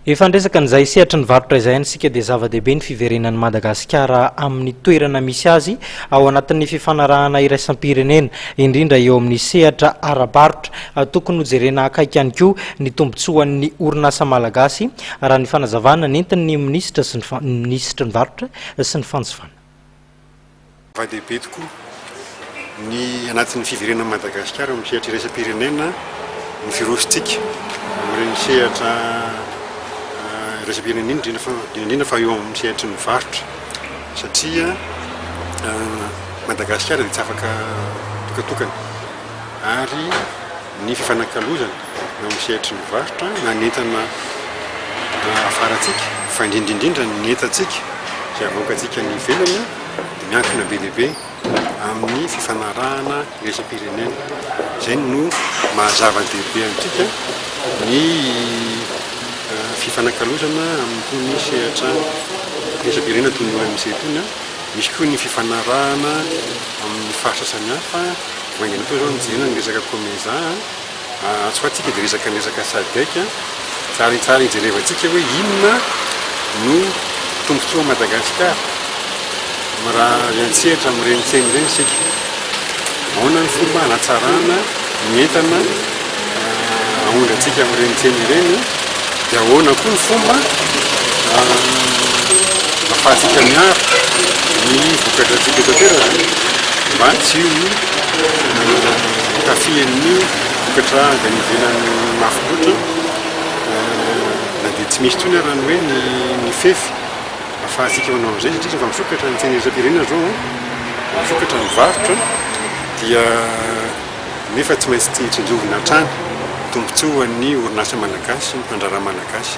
Efa niresaka an'izay sehatry ny varotra izay any isika dia zava-dehibe ny fiverenan'i Madagasikara amin'ny toerana misy azy ao anatin'ny fifanarahana iraisam-pirenena, indrindra eo amin'ny sehatra ara-barotra. Tokony hojerena akaiky ihany koa ny tombontsoan'ny orinasa malagasy, raha ny fanazavana nentin'ny minisitra sy ny minisitry ny varotra sy ny fanjifana. Zava-dehibe tokoa ny anatin'ny fiverenan'i Madagasikara amin'ny sehatra iraisam-pirenena ny firosotsika amin'ireny sehatra iraisam-pirenena iny, indrindra indrindra fa eo amin'ny sehatry ny varotra satria Madagasikara dia tsy afaka mitokatokana ary ny fifanakalozana. eo amin'ny sehatry ny varotra na ny entana afarantsika fa indrindra indrindra ny entantsika izay avoakantsika any ivelany dia miankina be dia be amin'ny fifanarahana iraisam-pirenena. Izay no mahazava-dehibe antsika ny fifanakalozana amin'itony sehatra iraisam-pirenena toy ny OMC itony. Misy koa ny fifanarahana amin'ny faritra samihafa, vaingana toa izao ny jerena ny resaka COMESA. Atsy ho atsy isika dia resaka ny resaka Sadec. Tsaratsara hijerevantsika hoe inona no tombontsoan'i Madagasikara raha miantsehatra amin'ireny tsena ireny isika. Ahoana ny fomba hanatsarana ny entana aondrantsika amin'ireny tsena ireny. Dia ahoana koa ny fomba ahafahantsika miaro ny vokadratsika eto an-toerana mba tsy hotafihan'ny vokatra avy any ivelany mafy loatra na dia tsy misy intsony ary ny hoe ny fefy ahafahantsika manao an'izay satria rehefa misokatra ny tsena iraisam-pirenena izao, misokatra ny varotra dia nefa tsy maintsy tsinjovina hatrany, tombontsoa ho an'ny orinasa malagasy, mpandraharaha malagasy.